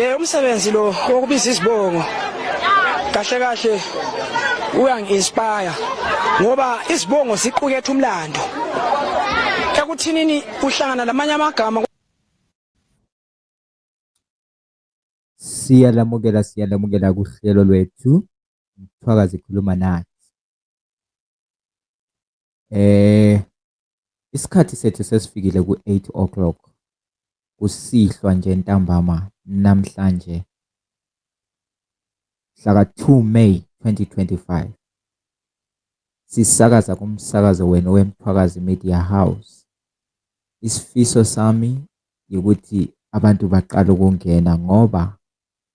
Eh umsebenzi lo wokubiza izibongo kahle kahle uyangi-inspire ngoba izibongo ziqukethe umlando ekuthinini uhlangana namanye amagama siyalamukela siyalamukela kuhlelo lwethu mthwakazi khuluma nathi Eh isikhathi sethu sesifikile ku-8 o'clock kusihlwa nje ntambama namhlanje mhlaka 2 May 2025 sisakaza kumsakazo wenu wemthwakazi media house isifiso sami ukuthi abantu baqala ukungena ngoba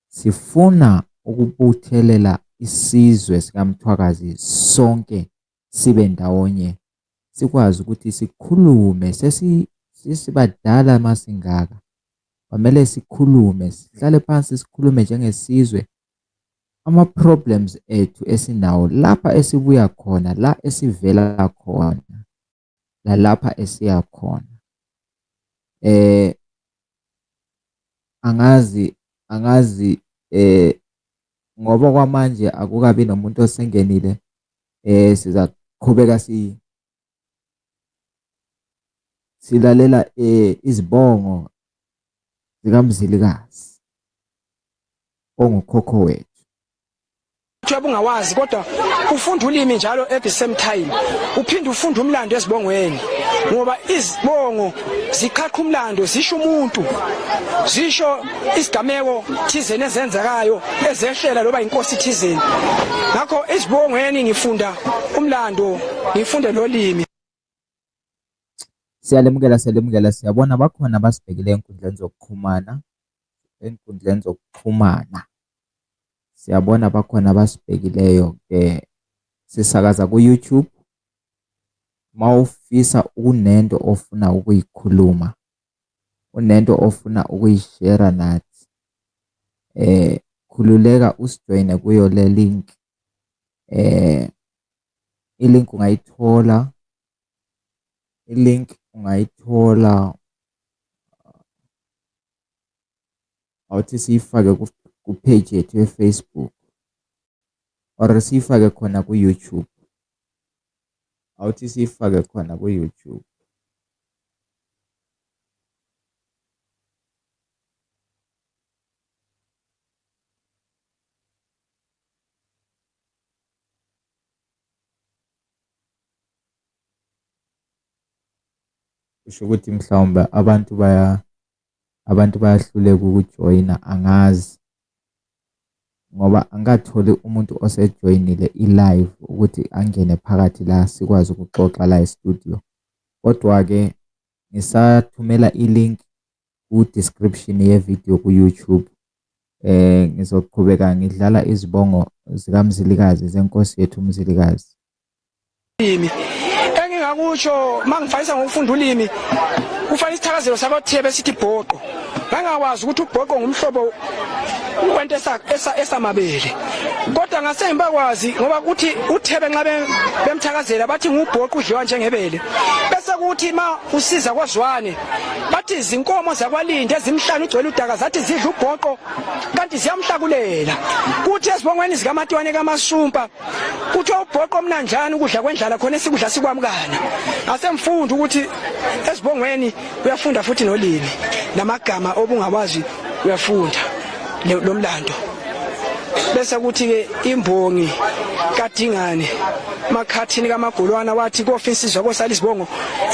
sifuna ukubuthelela isizwe sikamthwakazi sonke sibe ndawonye sikwazi ukuthi sikhulume sesibadala masingaka kwamele sikhulume sihlale phansi sikhulume njengesizwe ama-problems ethu esinawo lapha esibuya khona la esivela khona lalapha esiya khona eh angazi angazi eh ngoba kwamanje akukabi nomuntu osengenile eh siza qhubeka si silalela eh izibongo zikamzilikazi ongukhokho wethu kuthiwa bungawazi kodwa ufunda ulimi njalo at the same time uphinde ufunda umlando ezibongweni ngoba izibongo ziqhaqha umlando zisho umuntu zisho isigameko thizeni ezenzekayo ezeshela loba inkosi thizeni ngakho isibongweni ngifunda umlando ngifunde lolimi siyalemukela siyalemukela siyabona bakhona abasibhekile enkundleni zokuxhumana enkundleni zokuxhumana siyabona bakhona abasibhekileyo ke sisakaza ku-youtube uma ufisa ukunento ofuna ukuyikhuluma unento ofuna ukuyishera nathi eh khululeka usijoyine kuyo le link eh ilink ungayithola ilink ungayithola awuthi siyifake ku-page yethu ye-Facebook or siyifake khona ku-YouTube awuthi siyifake khona ku-YouTube kusho ukuthi mhlawumbe abantu baya abantu bayahluleka ukujoyina angazi ngoba angikatholi umuntu osejoyinile i-live ukuthi angene phakathi la sikwazi ukuxoxa la e-studio kodwa-ke ngisathumela i-link ku-description ye-video ku-youtube eh ngizoqhubeka ngidlala izibongo zikamzilikazi zenkosi yethu umzilikazi ulimi engingakusho mangifayisa ngokufunda ulimi kufana isithakazelo sakothiye besithi bhoqo ngangakwazi ukuthi ubhoqo ngumhlobo kwento esamabele kodwa ngase ngibakwazi ngoba kuthi uthebe nxa bemthakazela bathi ngubhoqo udliwa njengebele bese kuthi ma usiza kwazwane bathi izinkomo zakwalinde ezimhlanu ugcwele udaka zathi zidla ubhoqo kanti ziyamhlakulela kuthi ezibongweni zikamatwane kamasumpa kuthiwa ubhoqo omnanjani ukudla kwendlala khona esikudla sikwamukana asemfunda ukuthi esibongweni uyafunda futhi nolimi namagama obungawazi uyafunda lo mlando bese kuthi-ke imbongi kadingane makhathini kamagolwana wathi kofa insizwa kosala izibongo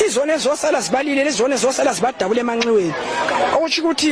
izona ezosala zibalile lezona ezosala zibadabule emanxiweni okusho ukuthi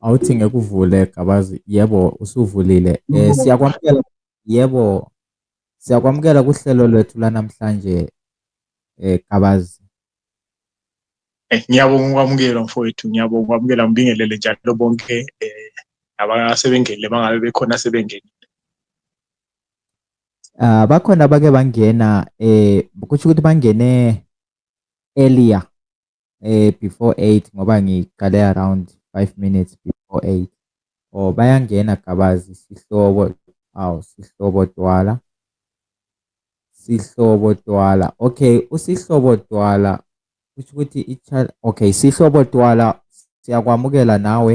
awuthi ngeke uvule gabazi yebo usuvulile um siyakwamukela yebo siyakwamukela kuhlelo lwethu lanamhlanje um gabazi Eh, ngiyabonga ukwamukela mfowethu ngiyabonga ukwamukela ngibingelele njalo bonke eh abasebengenile bangabe bekhona sebengenile Ah bakhona abake bangena eh kusho ukuthi bangene earlier eh before 8 ngoba ngiqale around 5 minutes before 8 or oh, bayangena gabazi sihlobo aw sihlobo twala sihlobo twala okay usihlobo twala kusho ukuthi ichild okay sihlobo twala siyakwamukela nawe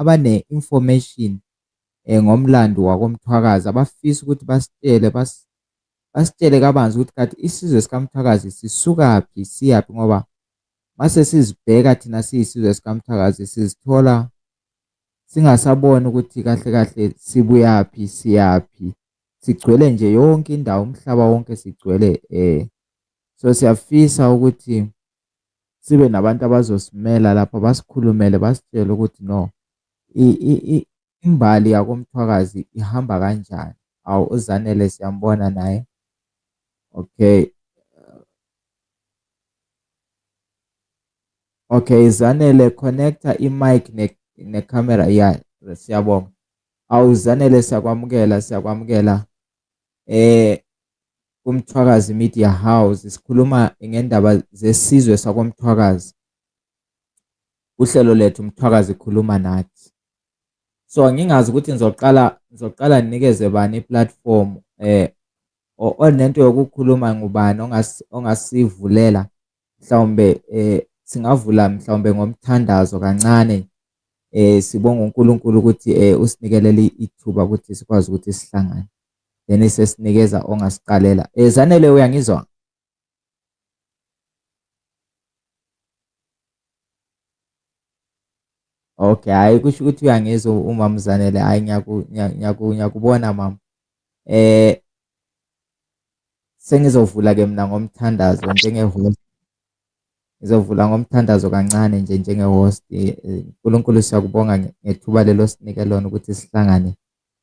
abane-information um ngomlando wakoMthwakazi abafisa ukuthi basitshele basitshele kabanzi ukuthi kanti isizwe sikaMthwakazi sisukaphi siyaphi ngoba mase sizibheka thina siyisizwe sikaMthwakazi sizithola singasaboni ukuthi kahle kahle sibuyaphi siyaphi sigcwele nje yonke indawo umhlaba wonke sigcwele eh so siyafisa ukuthi sibe nabantu abazosimela lapha basikhulumele basitshele ukuthi no imbali yakomthwakazi ihamba kanjani awu uzanele siyambona naye okay okay zanele connecta imic necamera ne ya siyabonga awu zanele siyakwamukela siyakwamukela eh kuMthwakazi Media House sikhuluma ngendaba zesizwe sakwaMthwakazi. Uhlelo lethu Mthwakazi khuluma nathi. So ngingazi ukuthi ngizoqala ngizoqala ninikeze bani iplatform eh onento yokukhuluma ngubani ongasivulela mhlawumbe eh singavula mhlawumbe ngomthandazo kancane eh sibonga uNkulunkulu ukuthi eh usinikele ithuba ukuthi sikwazi ukuthi sihlangane. then isesinikeza ongasiqalela eh zanele uyangizwa Okay, hayi kusho ukuthi uyangizwa umama Zanele. Hayi ngiyakubona mama. Eh sengizovula ke mina ngomthandazo njenge host. Ngizovula ngomthandazo kancane nje njenge host. Eh, Nkulunkulu siyakubonga ngethuba lelo sinike lona ukuthi sihlangane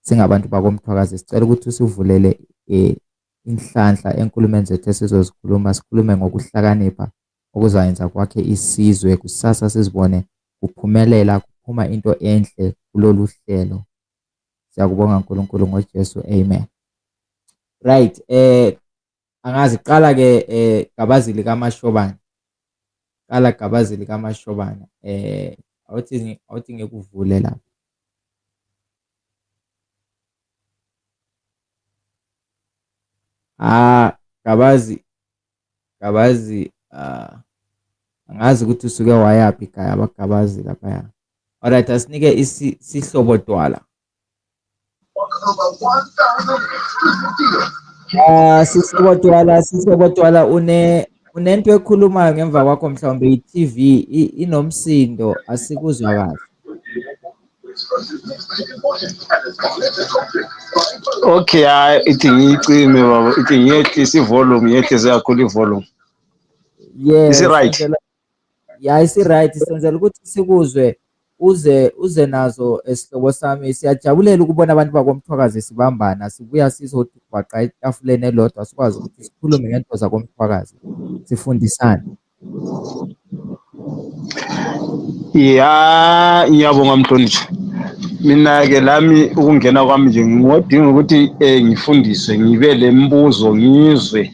singabantu bakomthwakazi sicela ukuthi usivulele um inhlanhla enkulumeni zethu esizozikhuluma sikhulume ngokuhlakanipha okuzayenza kwakhe isizwe kusasa sizibone kuphumelela kuphuma into enhle kulolu hlelo siyakubonga nkulunkulu ngojesu amen right um angazi qala ke eh gabazi lika mashobana qala gabazi lika mashobana eh awuthi awuthi ngekuvule lapha ah gabazi gabazi ah angazi ukuthi usuke wayaphi ikhaya abagabazi lapha ya alright asinike isihlobo twala Ah sisi kodwala sisi kodwala une unento ekhulumayo ngemva kwakho mhlawumbe i-TV inomsindo asikuzwa kahle. Okay hayi ithi ngiyicime baba ithi ngiyehlisa i-volume ngiyehlise kakhulu i-volume. Yes. Is it right? yayi si-right senzela ukuthi sikuzwe uze uze nazo esihlobo eh, sami siyajabulela ukubona abantu bakomthwakazi sibambana sibuya sizobhaqa etafuleni elodwa sikwazi ukuthi sikhulume ngento zakomthwakazi sifundisane ya ngiyabonga mhlonishwa mina-ke lami ukungena kwami nje ngingodinga ukuthi um ngifundiswe ngibe le mbuzo ngizwe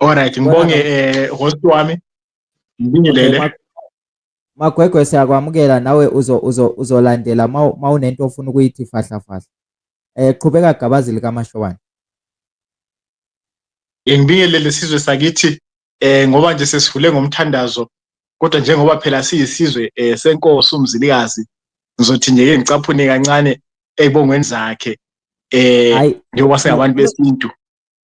Alright, ngibonge eh host wami. Ngibingelele. Magwegwe siyakwamukela nawe uzo uzo uzolandela mawunento ofuna ukuyithi fahla fahla. Eh qhubeka gabazi lika Mashobane. Ngibingelele sizwe sakithi eh ngoba nje sesivule ngomthandazo kodwa njengoba phela siyisizwe eh senkosi umzilikazi ngizothi nje ke ngicaphune kancane eybongweni zakhe eh njengoba singabantu besintu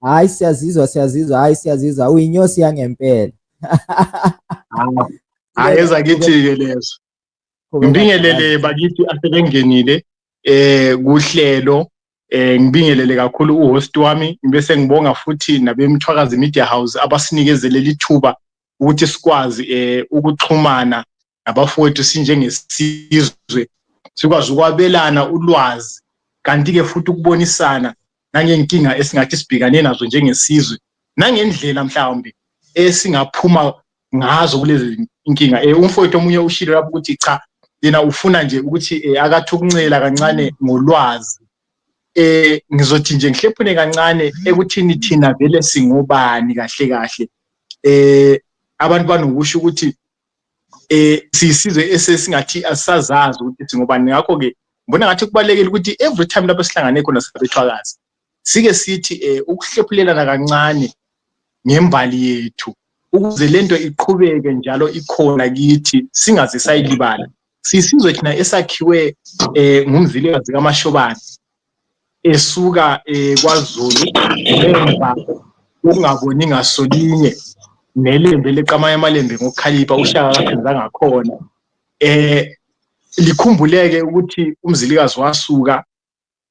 hayi siyazizwa siyazizwa hayi siyazizwa uyinyosi yangempela hayi eza kithi-ke lezo ngibingelele bakithi asebengenile eh kuhlelo eh ngibingelele kakhulu uhost wami ngibe sengibonga futhi nabemthwakazi media house abasinikeze leli thuba ukuthi sikwazi eh ukuxhumana nabafowethu sinjengesizwe sikwazi ukwabelana ulwazi kanti-ke futhi ukubonisana nangenkinga esingathi sibhekane nazo njengesizwe nangendlela mhlawumbe esingaphuma ngazo kulezi inkinga um umfowethu omunye ushilo lapho ukuthi cha yena ufuna nje ukuthi um akathi ukuncela kancane ngolwazi eh ngizothi nje ngihlephune kancane ekuthini thina vele singobani kahle kahle eh abantu banokusho ukuthi eh sisizwe esesingathi asazazi ukuthi singobani ngakho ke ngibona ngathi kubalekile ukuthi every time lapho sihlangane khona sabethwakazi sike sithi eh ukuhlephulelana kancane ngembali yethu ukuze lento iqhubeke njalo ikhona kithi singaze sayilibala sisizwe thina esakhiwe eh ngumzilikazi kaMashobane esuka eh, kwaZulu emva ukungaboni ngasolinye nelembe leqamanye amalembe ngokukhalipha ushaka kakhonza ngakhona eh likhumbuleke ukuthi umzilikazi wasuka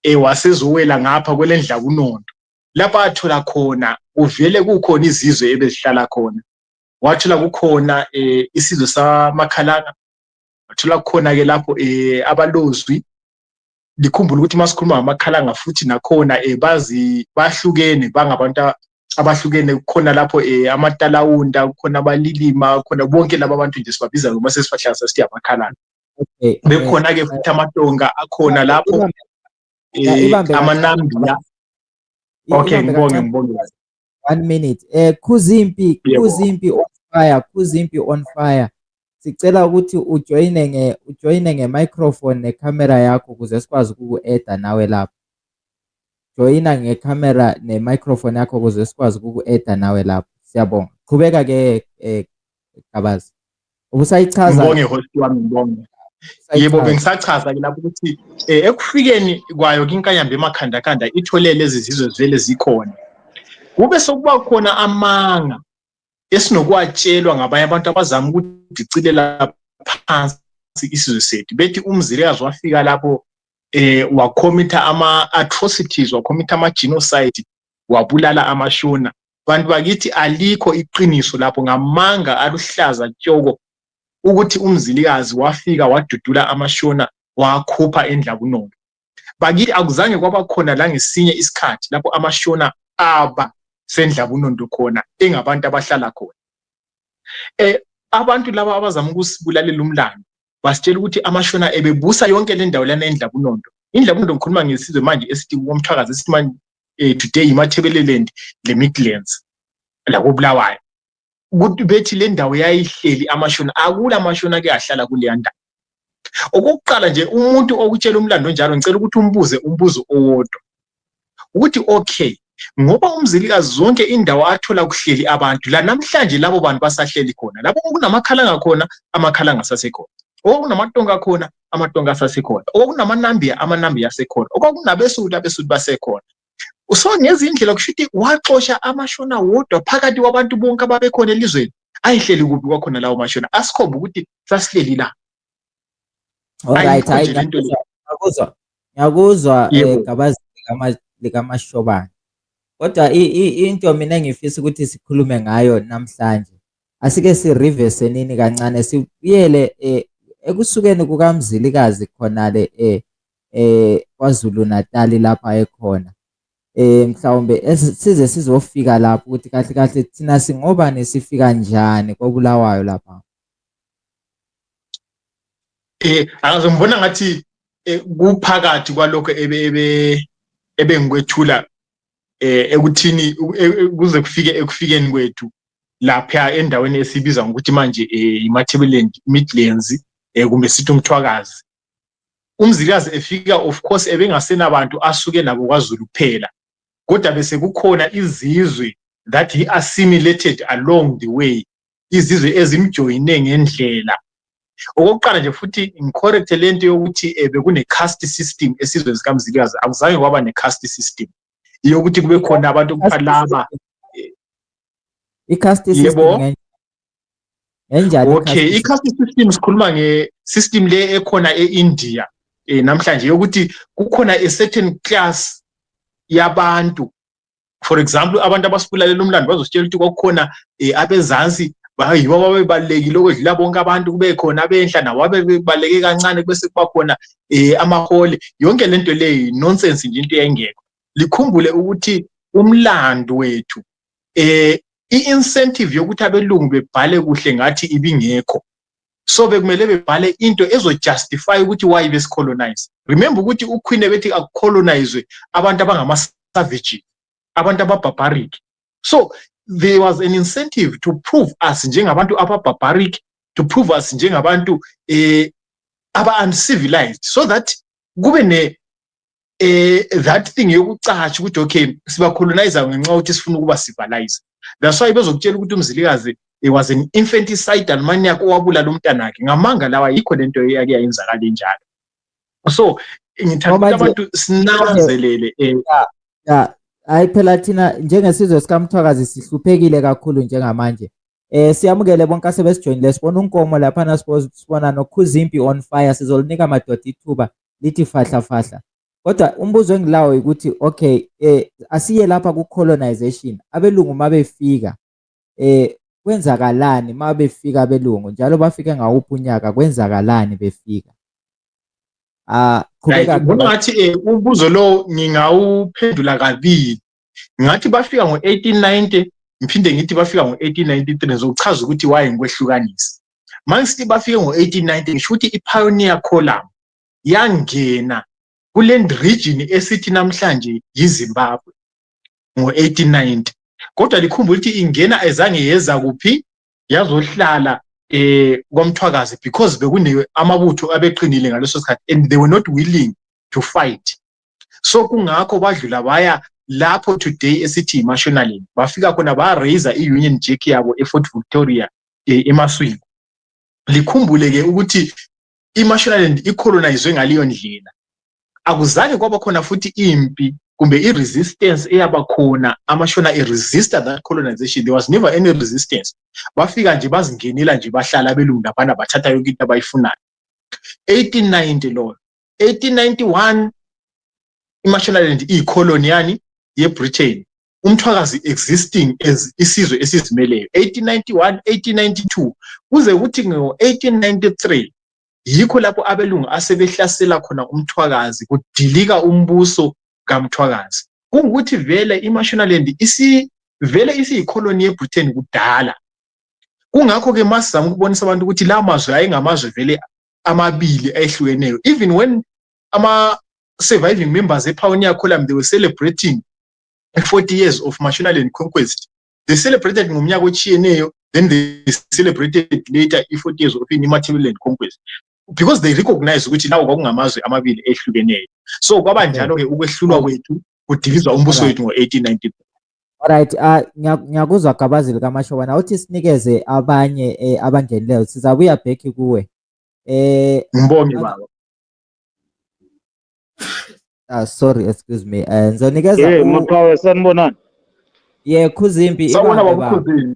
eh wasezowela ngapha kwelendla kunonto lapha athola khona kuvele kukhona izizwe ebezihlala khona wathola kukhona eh isizwe samakhalanga wathola kukhona ke lapho eh abalozwi likhumbule ukuthi uma sikhuluma ngamakhalanga futhi nakhona um bazi bahlukene bangabantu abahlukene kukhona lapho um amatalawunda kukhona abalilima khona bonke laba bantu nje sibabiza noma sesibahlangisa sithi amakhalanga bekhona-ke futhi amatonga akhona lapho um amanambiya okay ngibonge ngibonge one minute eh khuzimpi khuzimpi on fire khuzimpi on fire sicela ukuthi ujoyine nge ujoyine nge microphone ne camera yakho ukuze sikwazi ukuku-eda nawe lapho joyina nge camera ne microphone yakho ukuze sikwazi ukuku-eda nawe lapho siyabonga qhubeka ke eh, Gabas. Ubusayichaza. Ngibonge host wami ngibonge. Yebo bengisachaza ke lapho ukuthi eh, ekufikeni kwayo kinkanyamba emakhanda kanda ithole lezi zizwe zvele zikhona. Kube sokuba khona amanga esinokwatshelwa ngabanye abantu abazama ukudicilela phansi isizwe sethu bethi umzilikazi wafika lapho eh wakhomitha ama atrocities wakhomitha ama genocide wabulala amashona bantu bakithi alikho iqiniso lapho ngamanga aluhlaza tshoko ukuthi umzilikazi wafika wadudula amashona wakhupha endlabunono bakithi akuzange kwaba khona la ngesinye isikhathi lapho amashona aba sendlabunondo khona engabantu abahlala khona eh abantu laba abazama ukusibulalela umlando wasitshela ukuthi amashona ebebusa yonke le ndawo lana endlabunondo indlabunondo ngikhuluma ngesizwe manje esithi komthwakazi esithi manje um today yimathebeleland le midlands lakobulawayo ukuthi bethi le ndawo yayihleli amashona akula mashona ake ahlala kuleya ndawo okokuqala nje umuntu okutshela umlando onjalo ngicela ukuthi umbuze umbuzo owodwa ukuthi okay ngoba umzilikazi zonke indawo athola kuhleli abantu la namhlanje labo bantu basahleli khona lapho okunamakhala ngakhona amakhala ngasasekhona okunamatonga khona amatonga asasekhona okunamanambiya amanambiya asekhona okwakunabesudi abesudi basekhona so ngezindlela kusho ukuthi waxosha amashona wodwa phakathi kwabantu bonke ababekhona elizweni ayihleli kuphi kwakhona lawo mashona asikhomba ukuthi sasileli la Alright, hayi ngiyakuzwa. Ngiyakuzwa eh, gabazi likamashobane. Kodwa into mina engifisa ukuthi sikhulume ngayo namhlanje. Asike si reverse nini kancane sibuyele eh, ekusukeni kukaMzilikazi khona le eh, eh KwaZulu Natal lapha ekhona eh mhlawumbe size sizofika lapho ukuthi kahle kahle thina singobani sifika njani kobulawayo lapha eh akaze ngibona ngathi eh, kuphakathi kwalokho ebe ebe ebengikwethula eh ekuthini e, kuze kufike ekufikeni kwethu lapha endaweni esibiza ngokuthi manje eh, iMatabeleland Midlands eh, kumbe sithi umthwakazi umzilikazi efika of course ebengasenabantu asuke nabo kwaZulu kuphela kodwa bese kukhona izizwe that he assimilated along the way izizwe ezimjoyine ngendlela okokuqala nje futhi ngicorrecte le nto yokuthi um bekune-cast system esizweni sikamzilikazi akuzange kwaba ne-cast system iyokuthi kube khona abantu okuthiwa laba i-cast system enjani okay i-cast system sikhuluma nge-system le ekhona e-india um namhlanje yokuthi kukhona a certain class yabantu for example abantu abasibulalela umlando bazositshela ukuthi kwakukhona um abezansi yibo ababebalulekile okwedlula bonke abantu kube khona abenhla nabo abebebaluleke kancane kube sekuba khona um amahole yonke le nto leyo nonsense nje into yayingekho likhumbule ukuthi umlando wethu um i-incentive yokuthi abelungu bebhale kuhle ngathi ibingekho so bekumele bebhale into ezojustify ukuthi why besicolonize remember ukuthi uqueen ebethi akucolonizwe abantu abangamasavage abantu ababarbaric so there was an incentive to prove us njengabantu ababarbaric to prove us njengabantu eh aba-uncivilized so that kube ne eh that thing yokucatsha ukuthi okay sibacolonizer ngenxa ukuthi sifuna ukuba civilize that's why bezokutshela ukuthi umzilikazi he was an infanticidal maniac owabulala umntana wakhe ngamanga lawa yikho lento eyake yayenzakala enjalo so ngithanda abantu sinanzelele eh hayi phela thina njengesizwe sikamthwakazi sihluphekile kakhulu njengamanje Eh siyamukele bonke asebesijoinile sibona unkomo lapha na sibona nokhuzimpi on fire sizolinika madoda ithuba lithi fahla fahla. Kodwa umbuzo engilawo ukuthi okay eh asiye lapha ku colonization abelungu mabefika eh kwenzakalani mabefika abelungu njalo bafike ngawuphi unyaka kwenzakalani befika. Ah qhubeka. Ngibona ngathi eh, umbuzo lo ngingawuphendula kabili. ngathi bafika ngo-1890 ngiphinde ngithi bafika ngo-1893 ngizokuchaza ukuthi waye ngikwehlukanisa mangisithi bafike ngo-1890 ngisho ukuthi i-pioneer column yangena kule region esithi namhlanje yizimbabwe ngo-1890 kodwa likhumbula ukuthi ingena ezange yeza kuphi yazohlala eh komthwakazi because bekune amabutho abeqinile ngaleso sikhathi and they were not willing to fight so kungakho badlula baya lapho today esithi imashonaling bafika khona ba-raiser i-union jack yabo efort victoria eh, emaswini likhumbule-ke ukuthi iMashonaland icolonizwe ngaleyo ndlela akuzange kwaba khona futhi impi kumbe i-resistance eyaba khona amashona e-resista that colonization there was never any resistance bafika nje bazingenela nje bahlala abelungu laphana bathatha yonke into abayifunayo 1890 loyo 1891 imashonaland iyicoloni yani yebritain umthwakazi existing as isizwe esizimeleyo 1891 1892 kuze kuthi ngo-1893 yikho lapho abelungu asebehlasela khona umthwakazi kudilika umbuso kamthwakazi kungukuthi vele imashonaland vele isiyikholoni yebritain kudala kungakho-ke masizama ukubonisa abantu ukuthi la mazwe ayengamazwe vele amabili ayehlukeneyo even when ama-surviving members epioneer column they were celebrating 40 years of Mashonaland conquest they celebrated ngomnyaka ochiyeneyo then they celebrated later i-40 years of i-Matabeleland conquest because they recognize ukuthi lawo kwakungamazwe amabili ehlukeneyo so kwaba njalo-ke ukwehlulwa kwethu kudilizwa umbuso wethu ngo-1894 Alright, uh, ngiyakuzwa gabazi likaMashoba na uthi sinikeze abanye eh, abangenileyo sizabuya back kuwe. Eh Ngibonge baba. Ah sorry excuse me. Eh ngizonikeza Hey u- maqhawe sanibonani. yeah Khuzimpi Sawubona ibambe baba baba. Khuzini.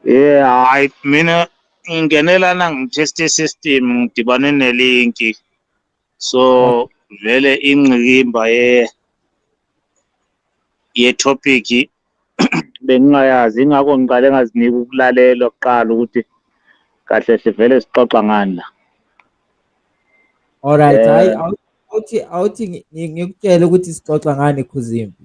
Eh hayi mina ngingenela na ngitest system ngidibane nelinki. So vele ingqikimba ye ye topic bengingayazi ingakho ngiqale ngazinika ukulalela kuqala ukuthi kahle hle vele sixoxa ngani la alright hayi eh. awuthi awuthi ngikutshele ukuthi sixoxa ngani khuzimpi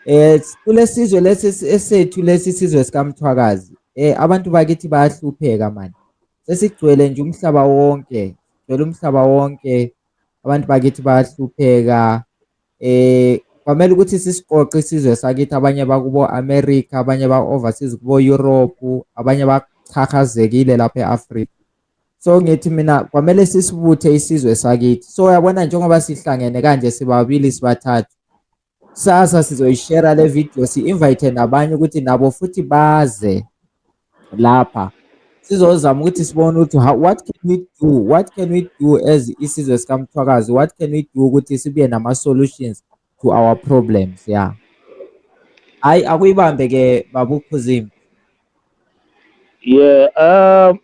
eh kulesizwe lesi esethu lesi sizwe sikamthwakazi eh abantu bakithi bayahlupheka manje sesigcwele nje umhlaba wonke gcwele umhlaba wonke abantu bakithi bayahlupheka eh kwamele ukuthi sisiqoqe isizwe sakithi abanye bakubo America abanye ba overseas kubo Europe abanye bachachazekile lapha eAfrica so ngithi mina kwamele sisibuthe isizwe sakithi so uyabona njengoba sihlangene kanje sibabili sibathathu sasa sizoyishare le video si-invite nabanye ukuthi nabo futhi baze lapha sizozama ukuthi sibone ukuthi what can we do what can we do as isizwe sikamthwakazi what can we do ukuthi sibuye nama-solutions to our problems ya yeah. hhayi akuyibambe ke babukhuzimi yeah um uh,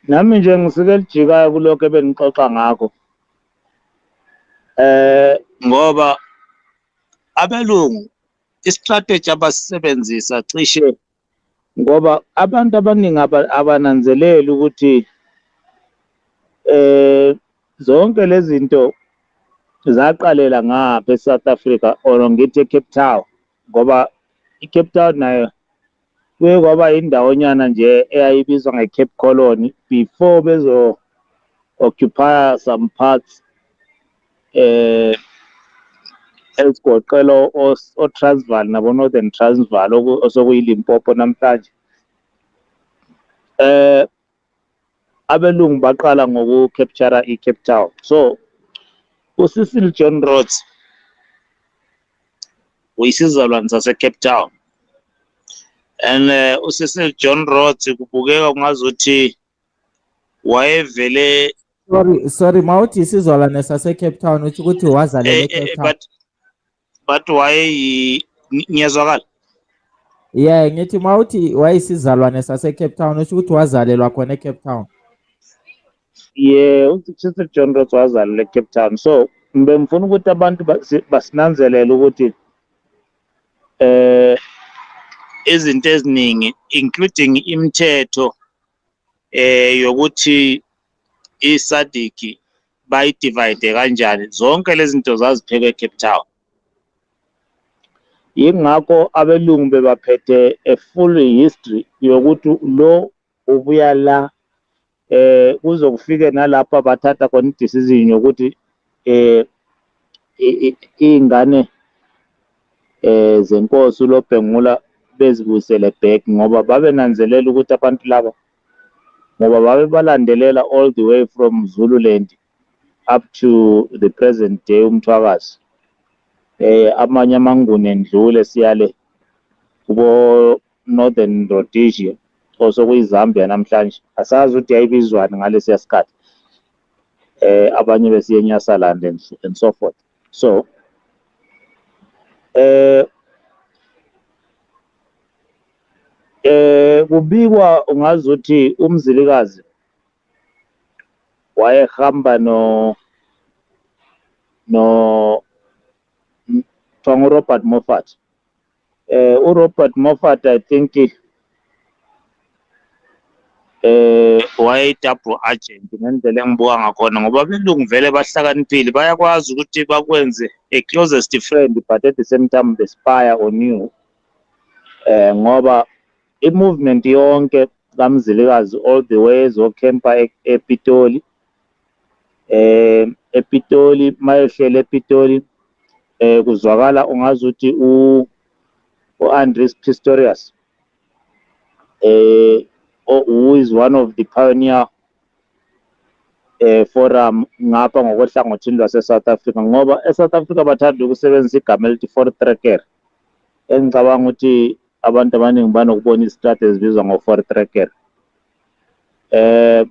nami nje ngisike lijikayo kulokho ebenixoxa ngakho eh ngoba abelungu istrategy abasisebenzisa cishe Ngoba abantu abaningi abananzeleli ukuthi eh zonke lezi zinto zaqalela ngapha eSouth Africa or ngithi eCape Town ngoba iCape Town nayo kuye kwaba indawonyana nje eyayibizwa ngeCape Colony before bezo occupy some parts eh ezigoqela oTransvaal nabo Northern Transvaal osokuyiLimpopo namhlanje eh abelungu baqala ngoku capture iCape Town so uCecil John Rhodes uyisizalwane saseCape Town and eh, uCecil John Rhodes kubukeka kungazuthi wayevele sorry sorry mawuthi isizwalane sasecape town uthi ukuthi wazalele eh, eh, ecape eh, town but but wayeyi ngiyezwakala yeah ngithi mawuthi wayisizalwane sasecape town usho ukuthi wazalelwa khona ecape town yeah uchief john ross wazalelwa ecape town so bengifuna ukuthi abantu basinanzelele ukuthi eh izinto eziningi including imithetho eh yokuthi iSadiki bayidivide kanjani zonke lezi zinto zaziphekwe eCape Town yingakho abelungu bebaphethe a full history yokuthi lo ubuya la eh kuzokufike nalapha bathatha khona idecision yokuthi eh iy'ngane eh zenkosi uLobhengula bezibuyisele back ngoba babenanzelela ukuthi abantu laba ngoba babebalandelela all the way from Zululand up to the present day umthwakazi eh amanye amanguni endlule siyale kubo Northern Rhodesia osokuyizambia namhlanje asazi ukuthi yayibizwani ngalesiya sikhathi eh abanye besiye eNyasaland and, and so forth so eh eh kubikwa ungazi ukuthi umzilikazi wayehamba no no kuthiwa ngurobert moffat eh uRobert Moffat i think eh wayeyi-double agent ngendlela engibuka ngakhona ngoba abelungu vele bahlakaniphile bayakwazi ukuthi bakwenze a closest friend but at the same time the spire on you eh ngoba i-movement yonke kamzilikazi all the way ezokhempa e-, epitoli eh ePitoli mayehlele ePitoli eh kuzwakala ungazi ukuthi u uAndres Pistorius eh who is one of the pioneer eh forum ngapha ngokohlangothini lwaseSouth Africa ngoba eSouth Africa bathanda ukusebenzisa igama elithi for tracker engicabanga ukuthi abantu abaningi banokubona izitrade ezibizwa ngo-four tracker eh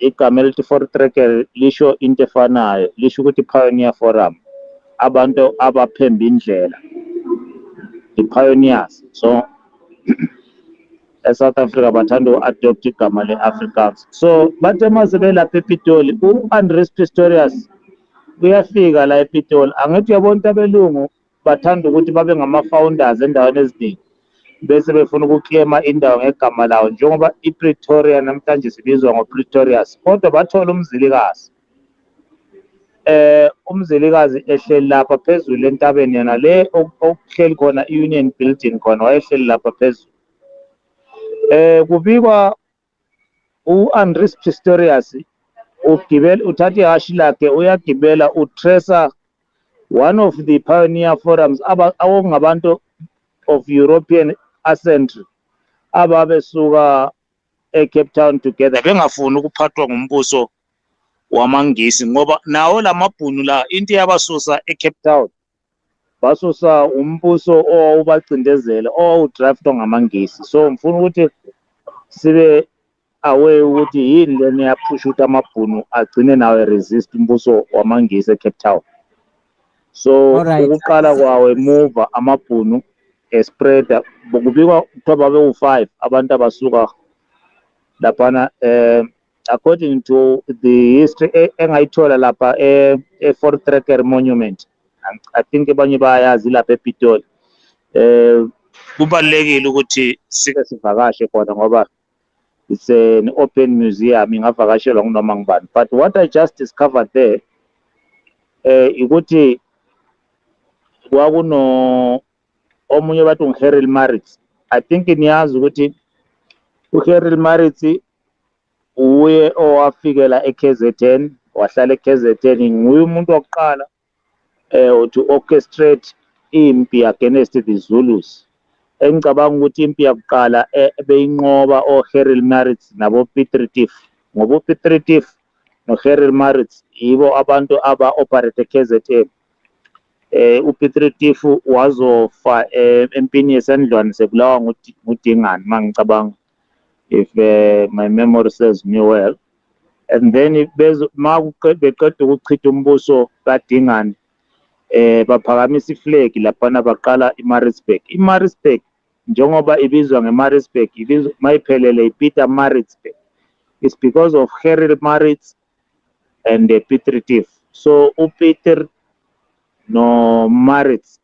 Igama elithi Voortrekker lisho into efanayo, lisho ukuthi pioneer forum, abantu abaphemba indlela, the pioneers. So eSouth Africa bathanda uku-adopt igama le-Afrikaans. So bathe uma sebelapha ePitoli, u-Andries Pistorius uyafika la ePitoli. Angithi uyabona ukuthi abelungu Bathanda ukuthi babe ngama-founders endaweni eziningi bese befuna ukuklema indawo ngegama lawo njengoba iPretoria namhlanje sibizwa ngoPretorius kodwa bathola umzilikazi eh umzilikazi ehleli lapha phezulu entabeni yena le okuhleli khona iUnion Building khona wayehleli lapha phezulu eh kubikwa U-Andries Pretorius ugibel, uthatha ihhashi lakhe uyagibela uTresa one of the pioneer forums okungabantu of European ascentry ababesuka eCape Town together bengafuni ukuphathwa ngumbuso wamaNgisi ngoba nawo lamabhunu la into eyabasusa eCape Town basusa umbuso owawubacindezele owawudraftwa ngamaNgisi so ngifuna ukuthi sibe aware ukuthi yini lena eyaphusha ukuthi amabhunu agcine nawo eresist umbuso wamaNgisi eCape Town so Alright. ukuqala kwawo emuva amabhunu espreada kubikwa kuthiwa babewufive abantu abasuka laphana um according to the history e, engayithola lapha e, e Fort Tracker Monument I think abanye bayazi lapha ePitoli eh kubalekile ukuthi sike sivakashe khona ngoba it's an open museum ingavakashelwa kunoma ngubani but what i just discovered there eh ukuthi kwakuno omunye bathi ungiHeril Maritz i think niyazi ukuthi uHeril Maritz Uye owafikela eKZN wahlala eKZN nguye umuntu wokuqala um to orchestrate impi against the Zulus engicabanga ukuthi impi yakuqala eh, beyinqoba oHeril Maritz naboPitritif ngoba uPitritif noHeril Maritz yibo abantu aba-operate eKZN eh uPitritif wazofa eh, empini yesandlwane sebulawa ngudingane mangicabanga if uh, my memory serves me well and then ma beqeda ukuchitha umbuso kadingane eh baphakamisa iflag laphana baqala iMaritzburg iMaritzburg njengoba ibizwa ngeMaritzburg ibizwa mayiphelele iPeter Maritzburg it's because of Harry Maritz and uh, Peter Tiff so uPeter no Maritz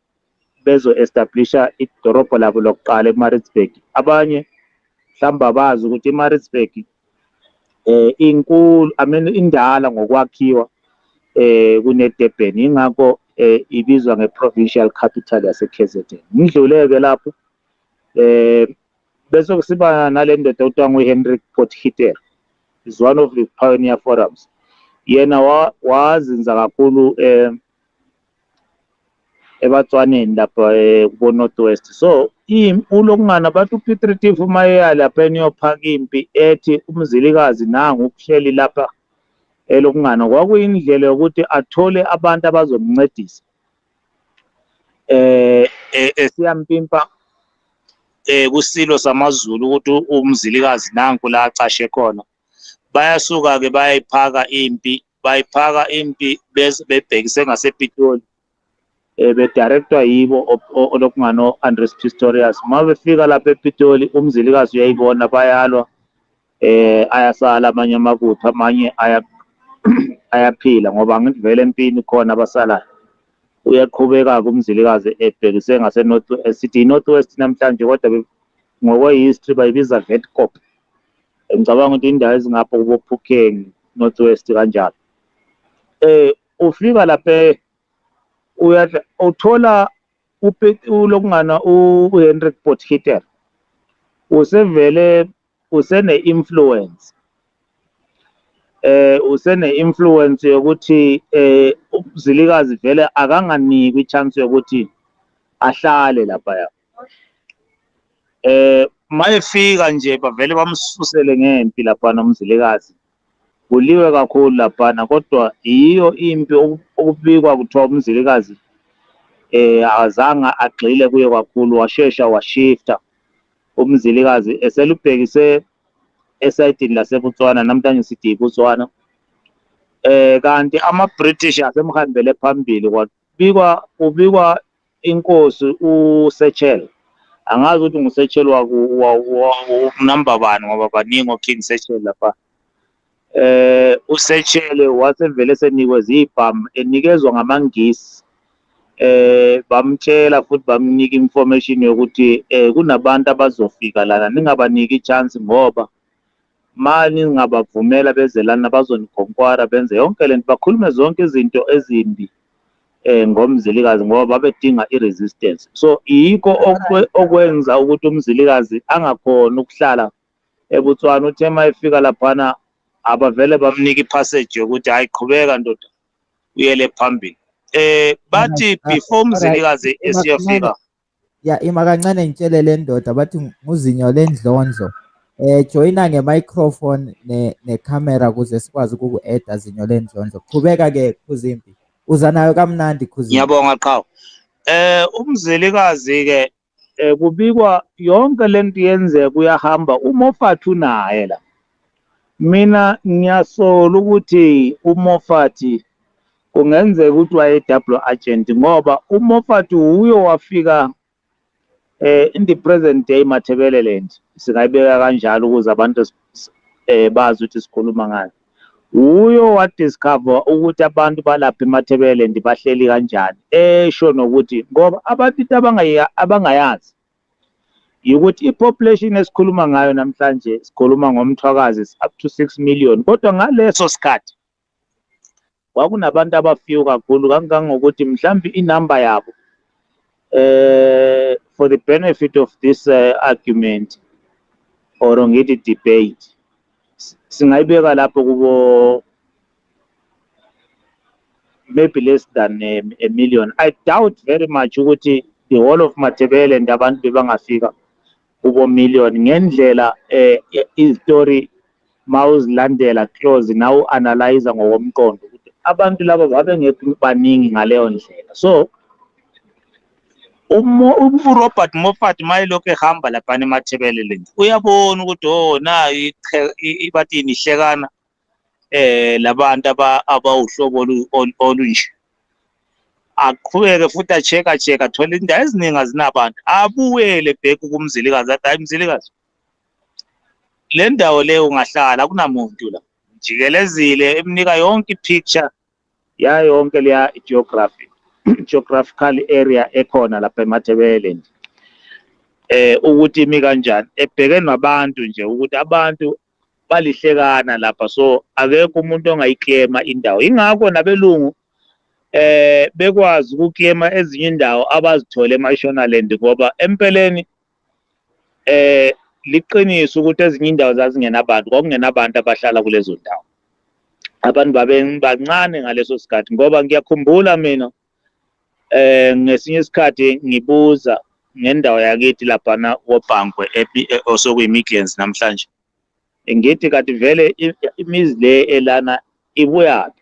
bezo-establisha idorobho labo lokuqala eMaritzburg. Abanye mhlawumbe abazi ukuthi iMaritzburg eh inkulu I mean indala ngokwakhiwa eh kuneDurban ingakho eh ibizwa ngeprovincial capital yaseKZN. Ngidlule ke lapho eh bese kusiba nalendoda okuthiwa nguHenrik Potgieter is one of the pioneer forums yena wazinza kakhulu eh eBatswaneni lapha eh, kubo North West so ulokungana bathi uPeter Tiff uma eya lapha eniyophaka impi ethi umzilikazi nangu uhleli lapha elokungana kwakuyindlela yokuthi athole abantu abazomncedisa eh, eh esiyampimpa eh kuSilo samaZulu ukuthi umzilikazi nanku la acashe khona bayasuka-ke bayayiphaka impi bayiphaka impi bebhekise ngasepitoli um eh, bedirectwa yibo onokungano-andres pistorius uma befika lapha epitoli umzilikazi uyayibona bayalwa eh ayasala amanye amakuthu amanye aya ayaphila ngoba ngivele empini khona abasalayo uyaqhubeka-ke umzilikazi ebhekise ngasenorth sithi i-north west namhlanje kodwa ngokwe-history bayibiza vetcop Ngicabanga ukuthi indawo ezingapha kuboPhukeng North West kanjalo. Eh ufika lapha uyadla uthola ulokungana uHenrik Potgieter usevele usene-influence eh usene-influence yokuthi eh uZilikazi vele akanganikwa i-chance yokuthi ahlale lapha eh mayefika nje bavele bamsusele ngempi lapha nomzilikazi kuliwe kakhulu laphana kodwa yiyo impi okubikwa kuthiwa umzilikazi eh azange agxile kuye kakhulu washesha washifta umzilikazi eselubhekise esayidini laseBotswana namhlanje sithi iBotswana eh kanti ama-British asemhambele phambili Kubikwa kubikwa inkosi uSechel. Angazi ukuthi nguSechel waku number bani ngoba baningi oKing Sechel lapha. Eh uSechel wasevele senikwe zibham enikezwa ngamaNgisi. Eh bamtshela futhi bamnika information yokuthi eh kunabantu abazofika lana ningabaniki chance ngoba Ma ningabavumela beze lana bazonigonkwara benze yonke lento bakhulume zonke izinto ezimbi eh ngomzilikazi ngoba babedinga iresistance so yiko okwenza ukuthi umzilikazi angakhona ukuhlala eBotswana uthe mayefika laphana abavele bamnika ipassage yokuthi hayi qhubeka ndoda uyele phambili eh bathi before umzilikazi esiyofika Ya ima kancane ngitshele le ndoda bathi nguzinyo lendlondlo. Eh joyina nge-microphone ne ne-camera ukuze sikwazi ukuku-edda zinyo lendlondlo. Qhubeka ke Khuzimpi. Uza nayo kamnandi Khuzimpi. Ngiyabonga Qhawe. Eh umzelikazi ke eh, kubikwa yonke lento yenzeka uyahamba uMoffat unaye la. Mina ngiyasola ukuthi uMoffat Kungenzeka ukuthi waye double agent ngoba u Moffat wuye owafika eh in the present day Matabeleland singayibeka kanjalo ukuze abantu eh bazi ukuthi sikhuluma ngani. Wuye owa discover ukuthi abantu balapha eMatabeleland bahleli kanjani esho nokuthi ngoba abantu into abangaya abangayazi ukuthi i-population esikhuluma ngayo namhlanje sikhuluma ngomthwakazi is up to 6 million kodwa ngaleso sikhathi Kwakunabantu abafew kakhulu kangangokuthi mhlambe inumber yabo eh for the benefit of this uh, argument or ngithi debate singayibeka lapho kubo maybe less than a, um, a million i doubt very much ukuthi the whole of matebele and abantu bebangafika UboMillion ngendlela izitori mawuzilandela close nawe u-analyser ngokomqondo ukuthi abantu laba babengekho baningi ngaleyo ndlela so uRobert Moffat mayelokhu ehamba laphana eMathebeleleni uyabona ukuthi o oh, nayo bathini ihlekana eh labantu abawuhlobo olunje aqhubeke futhi acheka cheka thola indawo eziningi azinabantu abuyele bheki kumzilikazi athi hayi mzilikazi le ndawo leyo ungahlala kunamuntu la jikelezile emnika yonke i-picture yayo yonke leya geography geographical area ekhona lapha emathebeleni eh ukuthi imi kanjani ebheke nabantu nje ukuthi abantu balihlekana lapha so akekho umuntu ongayiklema indawo ingakho nabelungu eh bekwazi ukuklema ezinye indawo abazithole eMashonaland ngoba empeleni eh liqiniso ukuthi ezinye indawo zazingenabantu kwakungenabantu abahlala kulezo ndawo abantu babebancane ngaleso sikhathi ngoba ngiyakhumbula mina eh ngesinye isikhathi ngibuza ngendawo yakithi laphana koBhankwe osokuyimidlands namhlanje ngithi kanti vele imizi le elana ibuyaphi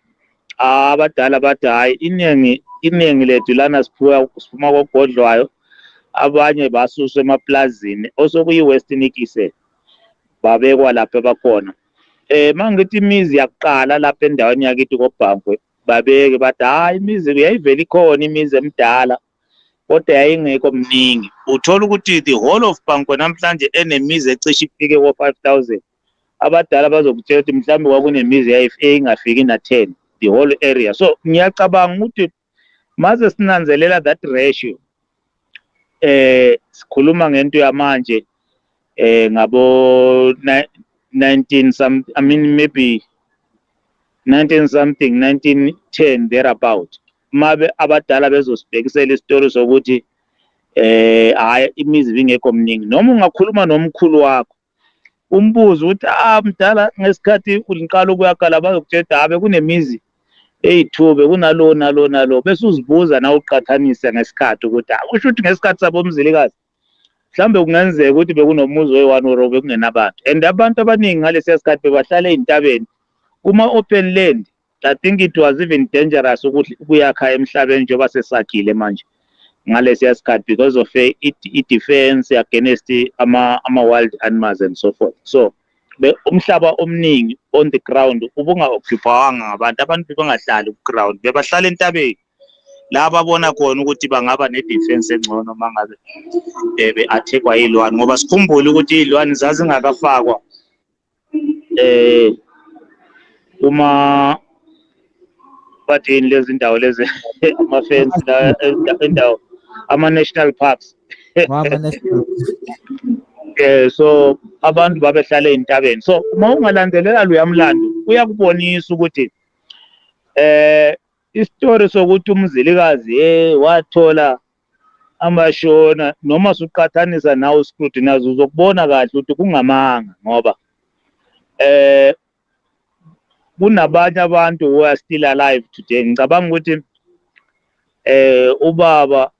abadala bathi hhayi iningi iningi lethu lana siphiwa siphuma kogodlwayo abanye basuswa emaplazini osokuyi-western ikise babekwa lapho abakhona um eh, uma ngithi imizi yakuqala lapha endaweni yakithi kobhankwe babeke bathi hayi imizi yayivele ikhona imizi emidala kodwa yayingekho mningi uthola ukuthi the whole of banko namhlanje enemizi ecishe ifike ko-five thousand abadala bazokutshela ukuthi mhlawumbe kwakunemizi eyayingafiki na-ten the whole area so ngiyacabanga ukuthi maze sinanzelela that ratio eh sikhuluma ngento yamanje eh ngabo 19 some i mean maybe 19 something 1910 thereabout mabe abadala bezosibhekisela isitori sokuthi eh hayi imizi bingekho mningi noma ungakhuluma nomkhulu wakho umbuzo ukuthi ah mdala ngesikhathi uliqala ukuyakala bazokutshela ah bekunemizi eyi-two bekunalo nalo nalo bese uzibuza nawe uqhathanise ngesikhathi ukuthi ah usho ukuthi ngesikhathi sabomzilikazi mhlawumbe kungenzeka ukuthi bekunomuzi oyi-one or bekungenabantu and abantu abaningi ngalesiya sikhathi bebahlala ezintabeni kuma-open land I think it was even dangerous ukuthi kuyakha emhlabeni njengoba sesakhile manje ngalesiya sikhathi because of eh, i-defense against ama-wild animals and so forth so umhlaba omningi on the ground ubunga-occupawanga ngabantu abantu bebangahlali ku-ground bebahlala entabeni la babona khona ukuthi bangaba ne-defense engcono uma ngabe um be-athekwa iy'lwane ngoba sikhumbule ukuthi iy'lwane zazingakafakwa eh uma bathini lezi ndawo lezi amafensi la indawo ama-national parks eh so abantu babehlala ezintabeni so uma ungalandelela lo yamlando uyakubonisa ukuthi eh isitori sokuthi umzilikazi eh wathola Amashona noma suqhathanisa nawe scrutinize uzokubona kahle ukuthi kungamanga ngoba eh kunabanye abantu who are still alive today ngicabanga ukuthi eh ubaba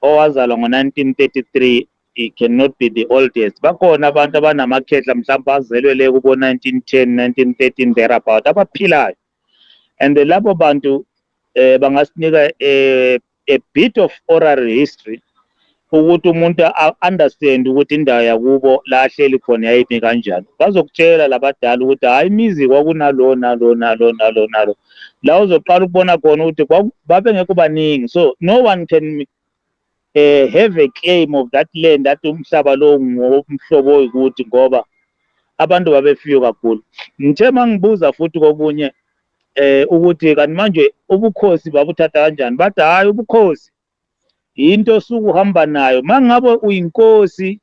owazalwa ngo-1933 he cannot be the oldest bakhona abantu abanamakhehla mhlawumbe azelwe le kubo-1910 1913 thereabout abaphilayo and labo bantu eh bangasinika eh, a bit of oral history ukuthi umuntu understand ukuthi indawo yakubo la ahleli khona yayimi kanjani bazokutshela labadala ukuthi hayi imizi kwakunalo nalo nalo nalo nalo la uzoqala ukubona khona ukuthi babengekho baningi so no one can eh, have a claim of that land athi umhlaba lo ngomhlobo oyikuthi ngoba abantu babefiyo kakhulu ngithe mangibuza futhi kokunye eh ukuthi kanti manje ubukhosi babuthatha kanjani bathi hayi ubukhosi into osuke uhamba nayo mangabe uyinkosi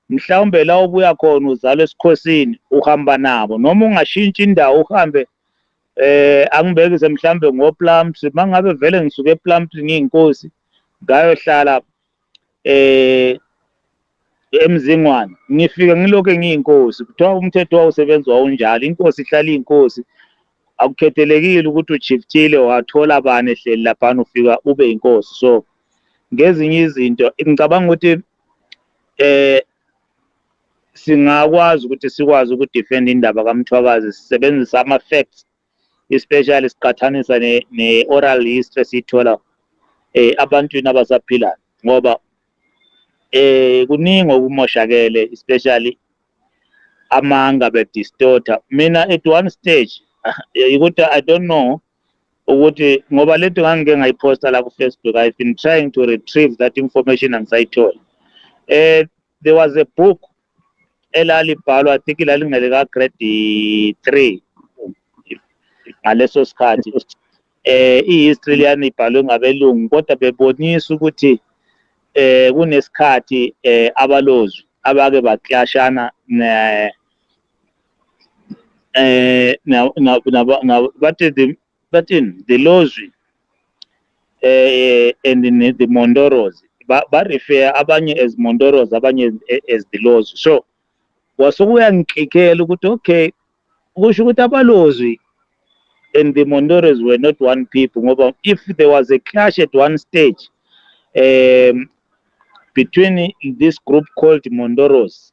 mhlawumbe la obuya khona uzalwa esikhosini uhamba nabo noma ungashintshi indawo uhambe eh angibekise mhlawumbe ngoplums mangabe vele ngisuke eplums ngiyinkosi ngayohlala eh emzingwane ngifike ngilokhu ngiyinkosi kuthiwa umthetho wawusebenzi wawunjalo inkosi ihlala iyinkosi akukhethelekile ukuthi ujiftile wathola bani ehleli laphana ufika ube inkosi so ngezinye izinto ngicabanga ukuthi eh singakwazi ukuthi sikwazi ukudefend indaba kaMthwakazi sisebenzisa ama facts especially siqathanisa ne-oral ne history esiyithola eh abantwini abasaphilayo ngoba eh kuningi okumoshakele especially amanga be distorter mina at one stage ukuthi i don't know ukuthi ngoba lento ngangike ngayiposta la ku-facebook i've been trying to retrieve that information angisayitholi um eh, there was a book elalibhalwa i think lalingelika grade three ngaleso sikhathi eh i-history liyani ibhalwe ngabelungu kodwa bebonisa ukuthi eh kunesikhathi eh abalozwi abake baklashana ne eh bathi Bathini the Lozwi eh, eh and ne- the Mondoros ba, ba refer abanye as Mondoros abanye as, eh, as the Lozwi so wasuke uyangiklikela ukuthi okay kusho ukuthi abalozwi and the Mondoros were not one people ngoba if there was a clash at one stage um between this group called Mondoros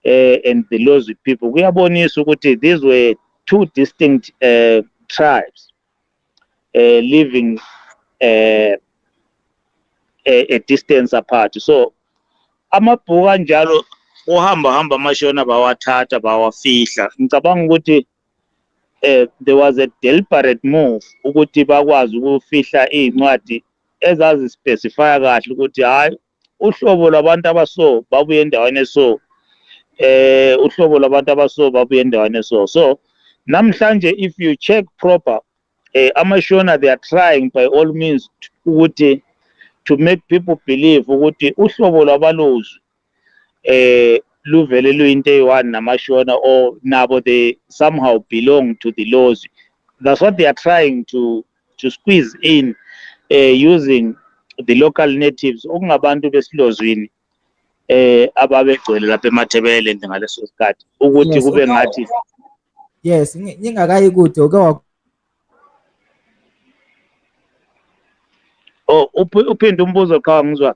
uh, and the Lozwi people kuyabonisa ukuthi these were two distinct uh, tribes uh, living uh, a, a distance apart so amabhuku anjalo uhamba hamba amashona bawathatha bawafihla ngicabanga ukuthi eh there was a deliberate move ukuthi bakwazi ukufihla izincwadi ezazi specify kahle ukuthi hayi uhlobo lwabantu abaso babuye endaweni eso eh uhlobo lwabantu abaso babuye endaweni eso so namhlanje if you check proper eh amashona they are trying by all means ukuthi to make people believe ukuthi uhlobo lwabalozwi eh luvele luyinto eyi-one namashona or nabo they somehow belong to the lozwi that's what they are trying to to squeeze in uh, using the local natives okungabantu besilozwini eh ababegcwele lapha eMatabeleland ngaleso sikhathi ukuthi yes, kube ngathi yes ngingakayi kude uke wa Oh uphinde umbuzo qha ngizwa